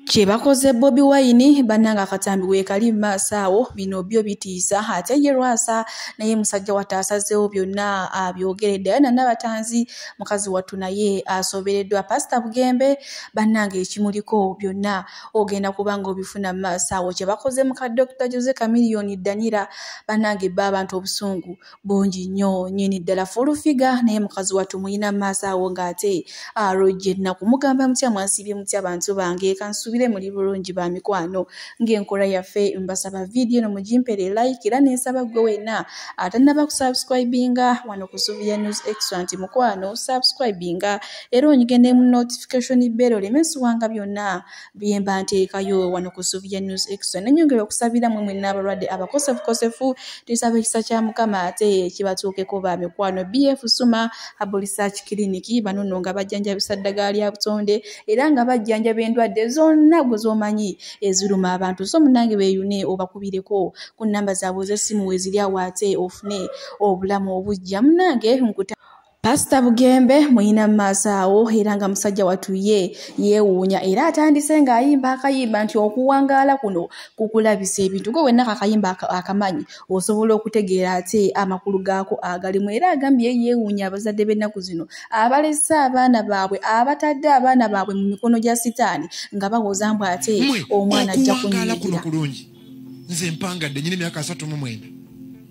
kyebakoze bobi wine bananga akatambi wekali mumaaso awo bino byo bitiisa ate ye lwasa naye musajja wata asazeewo byonna abyogeredde aye nanabatanzi mukazi wattu naye asobereddwa pasita bugembe bananga ekimuliko byonna ogenda kubanga obifuna mumaaso awo kyebakoze muka dokita jose kamiliyoni danira banange bba abantu obusungu bungi nnyo nyini ddala fulufiga naye mukazi wattu muyina maaso awo ng'ate alojja ennaku mugamba mutya mwansiibye mutya bantu bange kansuubire muli bulungi ba mikwano ng'enkola yaffe mbasaba vidiyo no mugimpere like era nensaba ggwe wenna atannaba kusubscribinga wano ku suvia news extra nti mukwano subscribinga era onyige ne mu notification bell oleme siwanga byonna byemba nteekayo wano ku suvia news extra nenyongera okusabira mwe mwenna abalwadde abakosefukosefu tusaba ekisa kya mukama ate kibatuukeko ba mikwano bf suma abulisac clinic banono nga bajjanjabisa ddagala lya butonde era nga bajjanjaba endwadde zonna gwe zomanyi eziruma abantu so munange beyune obakubireko ku namba zaabwe z'essimu weziri awo ate ofune obulamu obujja munange nkuta Pasita Bugembe muyina mu maaso awo era nga musajja wattu ye yeewuunya era atandise ng'ayimba akayimba nti okuwangaala kuno kukulabisa ebintu gwe wenna kakayimba akamanyi osobola okutegeera ate amakulu gaako agalimu era agambye yeewuunya abazadde b'ennaku zino abalese abaana baabwe abatadde abaana baabwe mu mikono gya sitaani nga bawoza mbu ate omwana ajja kunyigira nze mpangadde nyina emyaka asatu mu mwenda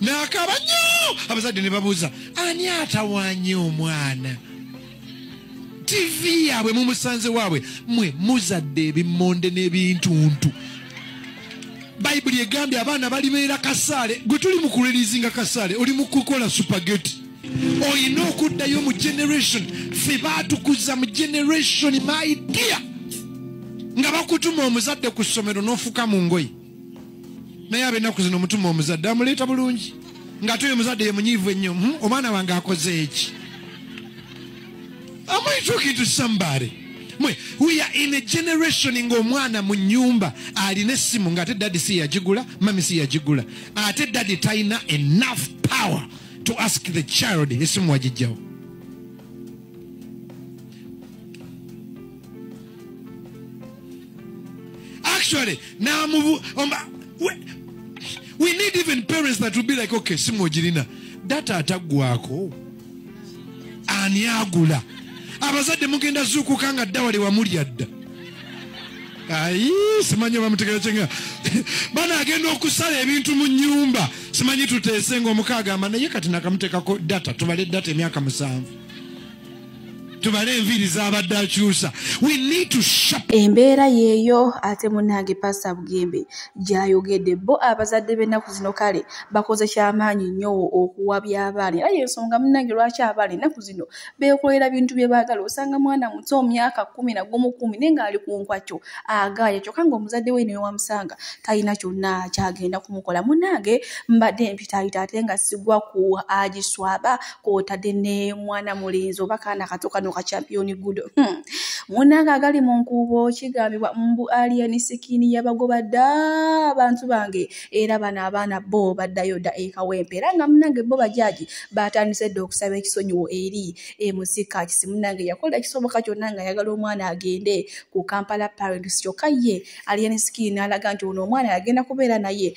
n'akaaba nnyo abazadde ne babuuza ani atawanye omwana tivi yaabwe mumusanze waabwe mwe muzadde ebimonde n'ebintuntu bayibuli egambye abaana balibeera kasaale gwe tuli mu kulirizinga kasaale oli mu kukola supageti olina okuddayo mu generation fe baatukuza mu generation my dear nga bakutuma omuzadde ku ssomero n'ofuka mu ngoye naye abennaku zino mutuma omuzadde amuleeta bulungi ngaate oyo omuzadde ye munyiivu ennyo hmm, omwana wange akoze eki amwitukitu sambare mwe we are in a generation ng'omwana mu nyumba alina essimu ng'ate daddy si yagigula mami si yagigula ate daddy talina enough power to ask the child esimu wagijjawo actually now move um, we, we need even parents that will be like okay simu ogirina data ataggwako ani agula abazadde mugenda zuukuka nga dda wali wamulya dda ayi simanyi bamutegera kyenga bana agenda okusala ebintu mu nyumba simanyi tuteese ngaomuka agamba naye kati nakamuteekako data tubale data emyaka musanvu tubale enviiri zabadde akyusa embeera yeeyo ate munange pasa bugembe gyayogedde bo abazadde b'ennaku zino kale bakoze kyamaanyi nnyo okuwa byabaana era yensonga munange lwaki abaana ennaku zino beekolera bintu bye baagala osanga mwana muto myaka kumi na gumu kumi naye ng'ali ku nkwakyo agaaya kyokka ng'omuzadde we newamusanga talina kyonna kyagenda kumukola munange mbadde mpitaayita ate nga sigwa ku agiswaba kwotadde ne mwana mulenzi oba kaana kato kano ka championi gudo hmm. munange agali mu nkuubo kigambibwa mbu aliani sikini yabagoba dda abantu bange era bano abaana bo baddayo dda ekawempe era nga munange bo bajaji batandise dda okusaba ekisonyiwo eri emusika kisi munange yakola ekisoboka kyonna nga ayagala omwana agende ku kampala parents kyokka ye aliani sikini n'alaga nti ono omwana yagenda kubeera naye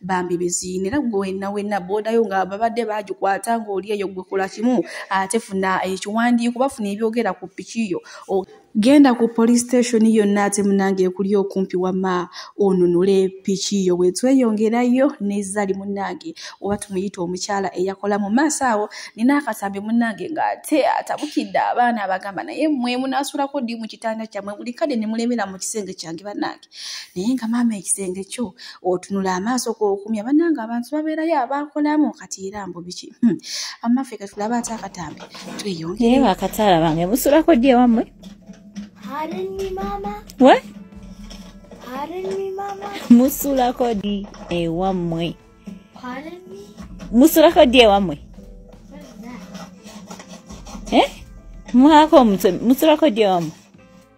bambi biziina era gwe wenna wenna boodayo nga babadde bagikwata ng'oli eyo gwe kola kimu ate funa ekiwandiiko bafuna ebyogera ku piki yo genda ku police station yonna ate munange ekuli okumpi wama onunule piki yo bwetweyongerayo nezali munange oba tumuyita omukyala eyakola mu maaso awo nina akatambi munange ngaate atabukidde abaana abagamba naye mwe munasulako ddi mu kitanda kyamwe buli kade nemulemera mu kisenge kyange banange naye nga maama ekisenge kyo otunula amaaso kokumya bananga abantu babeerayo abakolamu kati era mbu biki hmm. amaffe katulaba ate akatambi tweyongere bakataala bange musulako ddi ewammwe we musulako ddi ewammwe musulako ddi ewammwe eh? mwako musulako ddi ewammwe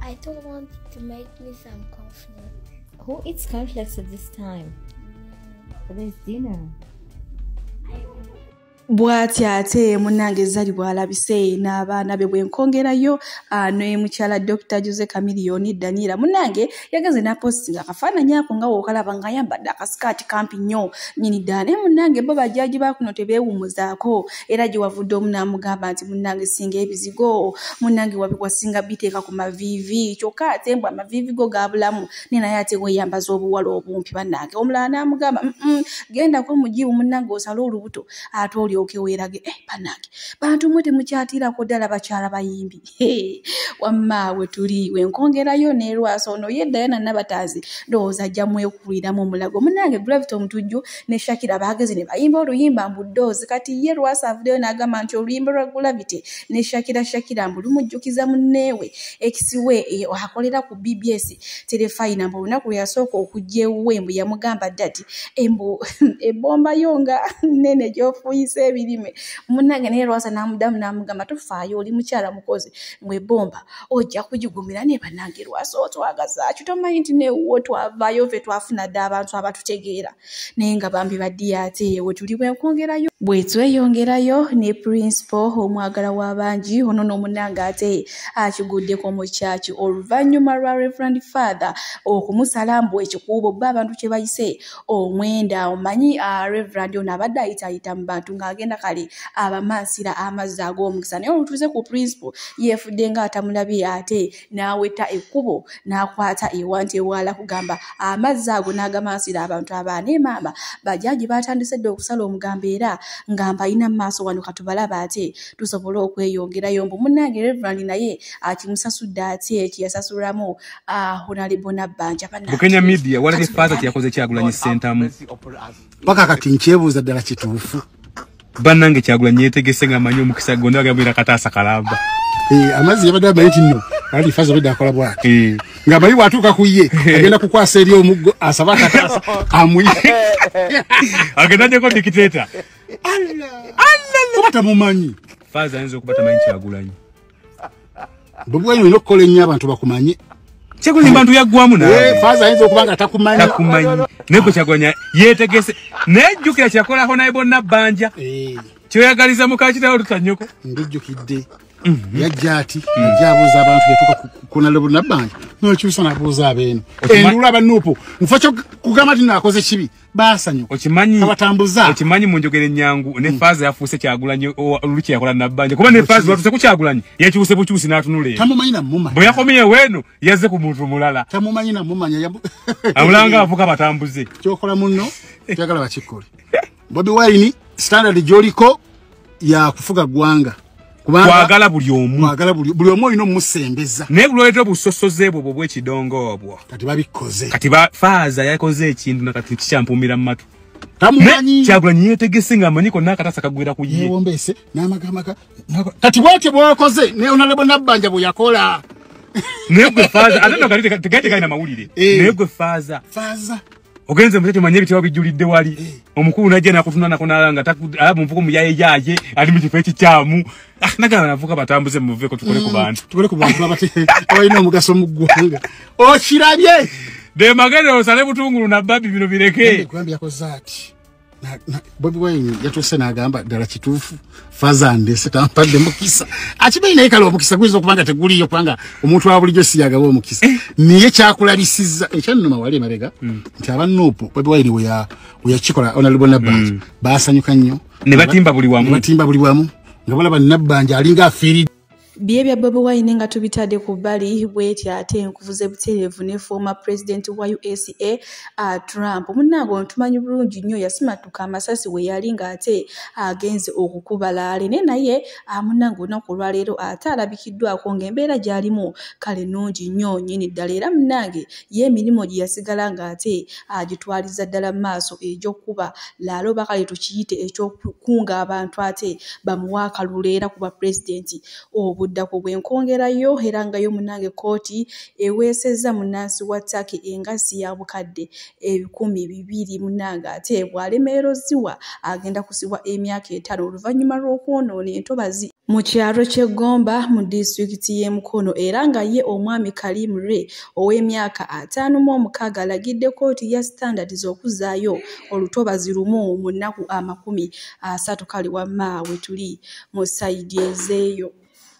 I don't want to make me some conflict. Who eats cornflakes at this time? Mm. There's dinner. bwati ate munange zali bwalabise n'abaana be bwenkongerayo ah, ne mukyala dr jose camilioni daniela munange yagenze napositinga akafaananyi ako nga wokalaba nga ayambadde akasikaati kampi nnyo nyini ddala naye munnange bo bajaaji bakuno tebeewumuzaako era gye wavudde omu n'amugamba nti munnange singa ebizigo munnange wasinga biteeka ku maviivi kyokka ate mbu amaviivi go gaabulamu naye naye ate weeyambaza obuwala obumpi bannange omulala n'amugamba gendako mugiibu munnange osale olubuto ate olyoke weerage eh, bannange bantu mwe temukyatiirako ddala bakyala bayimbi wamma we tuli wenkongerayo nelwasa ono ye dayana nabatanzi ndowooza ajja mwekuliramu omulago munange gravity omutujju ne shakira bagezi ne bayimba oluyimba mbudoozi kati ye lwasa avudeyo n'agamba nti oluyimba lwa gravity ne shakira shakira mbu lumujjukiza munneewe ekisiwe e, akolera ku bbs terefayina mbu olunaku lwe yasooka okujja ewuwe mbu yamugamba dadi embu ebombayo nga nene gyofuyisa ebirime munange naye lwaza namudamu namugamba tofaayo oli mukyala mukozi ngwe bomba ojja kugigumira naye banange lwaza otwagazaki tomanyi nti newuwo twavayo fe twafuna dda abantu abatutegeera naye nga bambi badiya ate ewe tuli bwenkwongerayo bwetweyongerayo ne principal omwagala w'abangi ono n'omunange ate akiguddeko mu kyaki oluvannyuma lwa reverend father okumusala mbu ekikuubo bba abantu kye bayise omwenda awo manyi ah, reverand ono abadde ayitayita mu bantu ng'agenda kale abamansira amazzi ag'omukisa naye olutuuze ku principal yeefudde ng'atamulabye ate n'aweta ekkubo n'akwata ewanti ewaala kugamba amazzi ago n'agamansira abantu abaana emaama bajaaji baatandise dde okusala omugambo era nga mbalina mu maaso wano katubalaba ate tusobole okweyongerayo mbu munnange reverand naye akimusasudde ati ekiyasasulwamu Ah, bukenya media walabye faaza kyeyakoze kyagulanyi sentamu paka kati nkyebuuza ddala kituufu bannange kyagulanyi yetegese nga amanyi omukisa gonda agabwira kataasa kalamba eh, amazzi yabadde amanyi kino ali faaza obedde akola bwati eh. nga amanyi bwatuuka ku ye agenda kukwasa eri omuggo asaba akataasa amuye agenda nyeko dikiteta oba tamumanyi faaza ayinza okuba tamanyi kyagulanyi bubwenyi olina okukola ennyo abantu bakumanye kyagulanyi bantu yaggwamu nafaaza eh, ayinza okuba nga takumanyi takumanyi naye gwe kyagulanya yetegese naye jjukira kyakolako naye bonna bbanja eh. kyoyagaliza mukakitawo tutanyoko ndijjukidde mhm. yajja ati mhm. ajja abuuza abantu yatuka kunalebo nabbanja nokyusa nabuuza abeeno endula abanuupu nfa kyo kugamba ti nakoze kibi basanyu okimanyi abatambuza okimanyi munjogere nyangu ne mm. faza yafuse kyagulanyi oluki yakola nabanja kuba ne faza watuse ku kyagulanyi yakiuse buchusi natunule tamumanyi na muma boya komiye wenu yaze ku muntu mulala tamumanyi na muma nya abulanga avuka batambuze kyokola munno kyagala bakikole bobi wine standard joliko ya kufuga gwanga kwagala buli omu kwagala buli buli omu ino musembeza ne buloleta busosoze bwo bwo kidongo obwo kati babikoze kati ba faza yakoze ekintu na kati kichampumira matu tamumanyi kyagula nyiye tegese nga manyiko naka tasa kagwira ku yiye wombese na makamaka kati wote bwakoze ne onalebo nabanja bwo yakola ne gwe faza adana kali tegate kali na mawulire eh. ne gwe faza faza ogenze mutete manye bitwa bijulidde wali eh. omukulu naje nakutuna nako nalanga alabu mvuko muyaye yaje ali mu kifo ekikyamu ah nagala navuka batambuze muve ko tukole ku mm, bantu tukole ku bantu abate oyina omugaso mu ggwanga okirabye de magere osale butungulu na babi bino bireke kwambya ko zati bobi wine yatuuse n'agamba ddala kituufu fazande sitampadde mukisa akimanyi naye kale omukisa guyinza okuba nga teguliyo kubanga omuntu wa bulijjo siyagaba omukisa eh. naye kyakulabisiza ekyannuma wali emabega hmm. nti aba nuupu bobi wine weyakikola onalbo nabbanja hmm. baasanyuka nnyo nebatimba buli wamu nga balaba nabbanja alinga afiiridde Bye bya Bobi Wine nga tubitadde ku bbali bwetyo ate enkuvuze butereevu ne former president wa USA uh, Trump munnange ono tumanyi bulungi nnyo yasimattuka amasasi we yali ng'ate agenze okukuba laale naye naye uh, munnange olunaku olwaleero ate alabikiddwako ng'embeera gy'alimu kale nnungi nnyo nyini ddala era munnange ye emirimu gye yasigala ng'ate agitwaliza ah, ddala mu maaso egy'okukuba laalo oba kale tukiyite eky'okukunga abantu ate bamuwa akalulu era kuba pulezidenti obuddako bwenkongerayo era nga yo munange kkooti eweesezza munnansi wa taki engassi ya bukadde ebikumi bibiri munange ate bw'alemererwa ziwa agenda kusibwa emyaka etaano oluvannyuma lw'okwonoona entobazi mu kyalo ky'e Gomba mu disitulikiti y'e Mukono era nga ye omwami Karim Ray ow'emyaka ataano mu omukaaga alagidde kkooti ya Standards okuzzaayo olutobazi lumu mu nnaku amakumi asatu kale wamma we tuli mu sayidi ezeeyo.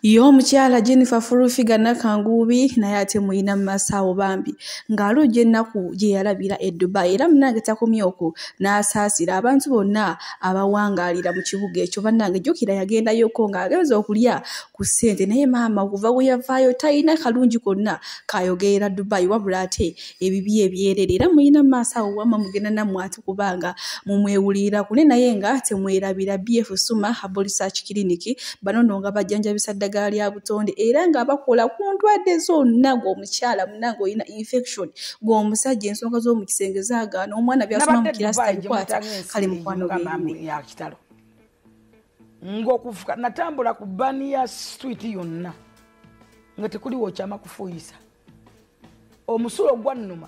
Ye omukyala Jennifer Furufiga Nakanguubi naye ate muyina mu masaawo bambi ng'alojja ennaku gye yalabira e Dubai era munange takomye okwo n'asaasira abantu bonna abawangaalira mu kibuga ekyo bannange jjukira yagendayoko ng'agenza okulya ku ssente naye maama okuva we yavaayo talina kalungi konna kayogerera dubai wabula ate ebibi ebyerere era mulina mu maaso awo wamma mugenda nammwe ati kubanga mumwewulirira kune naye nga temwerabira bf suma habolisach kiriniki banono nga bajjanjabisa ddagala lya butonde era nga bakola ku ndwadde zonna ng'omukyala munange olina infection gwe omusajja ensonga z'omu kisenge zaagaana omwana byasoma mu kirasi tabikwata kale mukwano bweyakitalo ngaokufuka natambula ku bani ya street yonna nga tekuli wokyama kufuuyisa omusulo gwannuma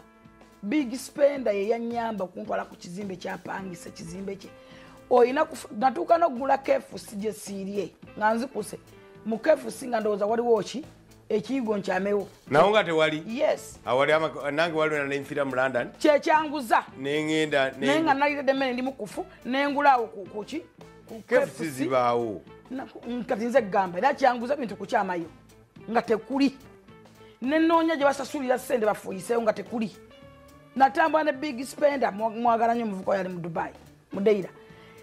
big spender yeyanyamba okuntwala ku kizimbe kyapangisa kizimbe kye olina natuuka nokugula kefusi gyesiirye nga nzikuse mu kefusi nga ndowooza waliwo ki ekiyigo nkyamewo nawo nga tewali yes awali nange waliwena nenfira mu london kyekyanguza nengenda naye nga naliredde emmere ndi mukufu nengulaawo kuki kefusi zibaawo kati nze gamba era kyanguza bintu kukyamayo nga tekuli nenoonya gye basasulira sente bafuyiseewo nga tekuli natambula ne big spender mwagala nyo omuvuka yali mu dubai mudeira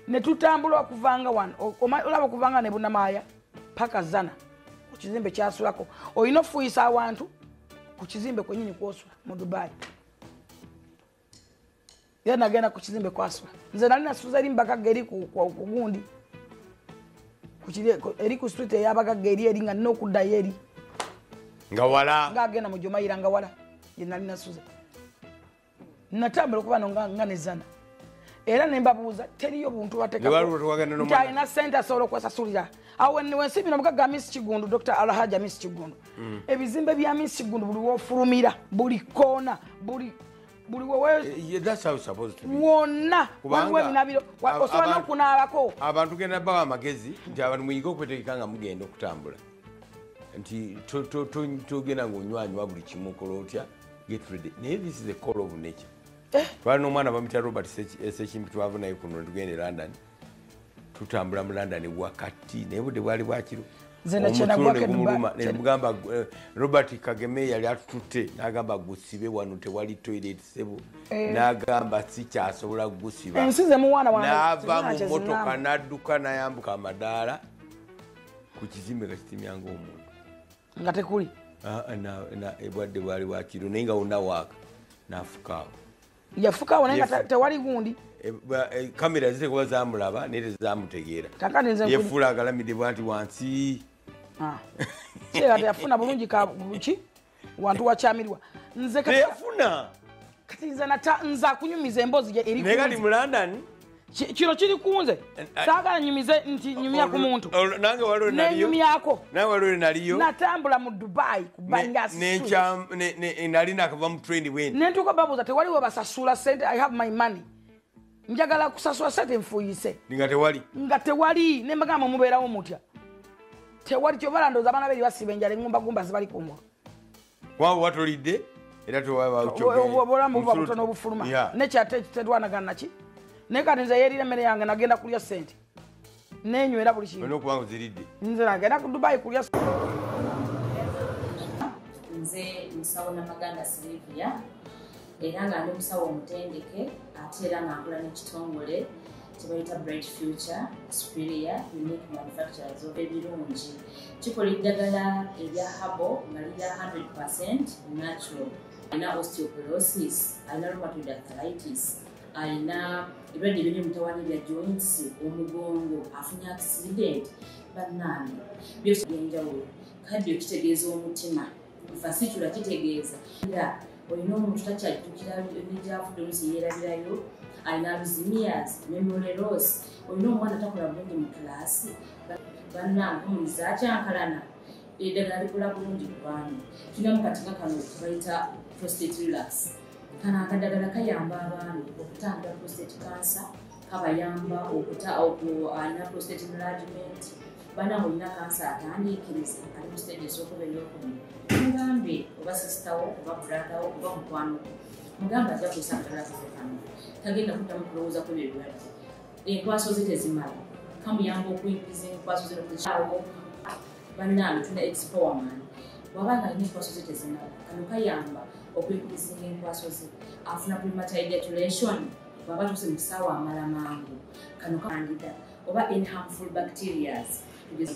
netutambula okuvanga wano olaba okuvanga nebunamaaya paka zana ku kizimbe kyasulako olina okufuuyisa awantu ku kizimbe kwenyini kwosula mu dubai era nagenda ku kizimbe kwasula nze nali nasuza eri mubagagga eri kugundi eri ku street eyabagagga eri eri nga nina okuddayo eri nga wala nga agenda mu jomayira nga wala yenali nasuza natambula okuba no nga nezana era nembabuuza teriyo buntu watekalina sente asobola okwesasulira awo wensi bino mugaga miss kigundu dr alhaja miss kigundu mm. ebizimbe bya miss kigundu buli wofulumira buli koona buli buli wewewonna waliwo ebinabiro osobola nokunaabako abantu genda bawa amagezi nti abantu muyige okwetegeka nga mugenda okutambula nti togenda ngaonywanywa buli kimu okola otya get ready naye this is a call of nature eh? twali n'omwana bamutya robert sekimpi twava naye kuno tugenda e london tutambula mu london wakati naye budde bwali bwakiro omutulonegumulumamugamba eh, robert kageme yali atututte nagamba gusibe wano tewali toilet sebo eh. nagamba sikyasobola gusiba nava mu motoka nadduka nayambuka amadaala ku kizimbe nga kitimyanga omuntu nga tekuli ah, ebwadde bwali wakiro naye nga wonna waaka nafukaawo yafukaawo naye nga tewali gundi kamera eh, eh, zitekuba zamulaba naye tezamutegeera yefuula agalamidde bwati wansi ah. yafuna bulungi ki wantu wakyamirwa nze teyafuna kati nze nata nze akunyumiza emboozi gye eri nekati mu london kino kiri kunze eh, eh. saagala nyumize nti nyumya ku muntu nange waliwo nenyumyako naye waliwo naliyo natambula mu dubai kubangasinali nakava mu train bweni nentuka babuuza tewaliwo basasula sente i have my money njagala kusasula sente nfuyise nga tewali nga tewali nembagamba mubeerawo mutya tewali kyobalandoza abaana beri basiba enjala eŋumbagumba zibali kumwa waba watulidde era tewabulamu buba butono obufuluma nekyate tetwanagana naki naye kati nze yerira emmere yange nagenda kulya sente nenywera buli kinokuba oziridde nze nagenda ku dubai kulya nze musawo namaganda silivia era nga ndi musawo omutendeke ate era nga nkola n'ekitongole kyebayita bright future superior unique manufacturers of ebirungi kikola eddagala erya habo nga lirya 100 percent natural alina osteoporosis alina rheumatoid arthritis alina ebirwadde ebiri mutawani bya joints omugongo afunye accident bannange byose byenjawulo kaddio kitegeeza omutima fasitula kitegeeza era olina omuntu takyajjukira negyavudde olusi yeerabirayo alina luzimias memoreros olina omwana takola bulungi mu kulaasi bannange omuntu zakyankalana eddagala likola bulungi kubanu tulina mu katika kano kebayita prostate relax kano akadagala kayamba abaami okutambula prostate cancer kabayamba okuta alina prostate enlargement bana mulina kansa atandiikiriza ali mu siteegi esokuba eyokumi mugambe oba sisitawo oba buladawo oba mukwano mugamba ajja kusa mutala kufukana tagenda kuddamu kulowooza kwebyo ebirwadde enkwaso ze tezimala kamuyamba okuyingiza enkwaso ze nokukyawo bannange tuna expowerman waba nga alina enkwaso ze tezimala kano kayamba okuyingiza enkwaso ze afuna premature ejaculation bwaba tuse mu kisaawa amala mangu kano kangida oba in harmful bacterias